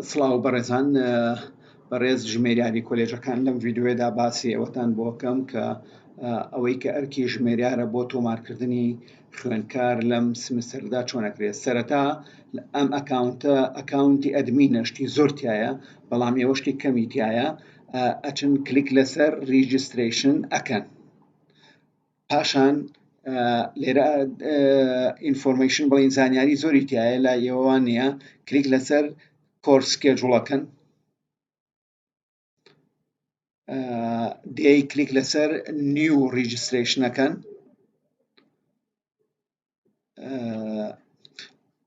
سڵاو بەڕێزان بەڕێز ژمێریاری کۆلێژەکان لەم ویددیوێدا باسی ئەوەتان بۆکەم کە ئەوەی کە ئەرکی ژمێریارە بۆ تۆمارکردنی خوێندکار لەم سمستەردا چۆنەکرێت سەرەتا ئەم ئەکاونتە ئەکاونتی ئەدمی نەشتی زۆرتایە بەڵام ئێوەشتی کەمیتایە ئەچن کلیک لەسەر ریجستریشن ئەکەن پاشان لێرە ئینفۆرمەیشن بڵین زانیاری زۆری تایە لا ئێوەوان نییە کلیک لەسەر کۆرسکێ جوڵەکەن دەی کلیک لەسەر نیو ڕیجسترشنەکەن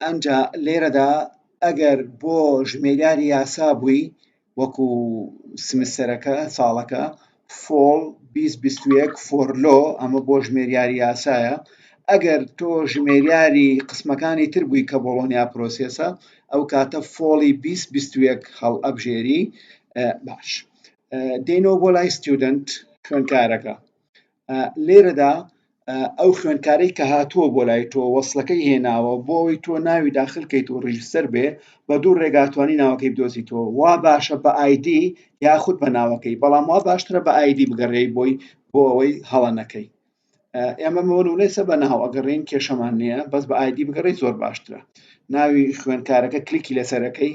ئەنجا لێرەدا ئەگەر بۆ ژمێریاری یاسا بووی وەکو سمسەرەکە ساڵەکە فۆڵ 2021 فۆرلۆ ئەمە بۆ ژمێریاری یاسایە ئەگەر تۆ ژمێریاری قسمەکانی تر بووی کە بۆڵۆنیا پرۆسیسە ئەو کاتە فۆڵی 2021 هەڵ ئەبژێری باش دێنەوە بۆ لای ستودنت خوێنکارەکە لێرەدا ئەو خوێندکارەی کە هاتووە بۆ لای تۆ وەصلەکەی هێناوە بۆ ئەوەی تۆ ناوی داخل کەیت و ڕیژسەر بێ بە دوو ڕێگاتوانی ناوەکەی بدۆزیتەوە وا باشە بە ئایدی یاخود بە ناوەکەی بەڵام وا باشترە بە ئایدی بگەڕێی بۆی بۆ ئەوەی هەڵە نەکەی ئێمە مەوەونەسە بە ناو ئەگەڕین کێشەمان نییە بەس بە ئایدی بگەڕی زۆر باشترە ناوی خوێندکارەکە کلیکی لەسەرەکەی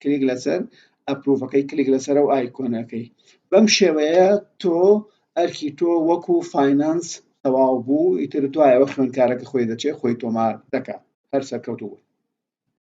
کلیک لەسەر ئەپروڤەکەی کلیک لەسەر و ئایکۆنەکەی بەم شێوەیە تۆ ئەرکی تۆ وەکو فینانس تەواو بوو ئیتر دوایەوە خوێنکارەکە خۆی دەچێت خۆی تۆمار دەکات هەر سەرکەوتوو بوو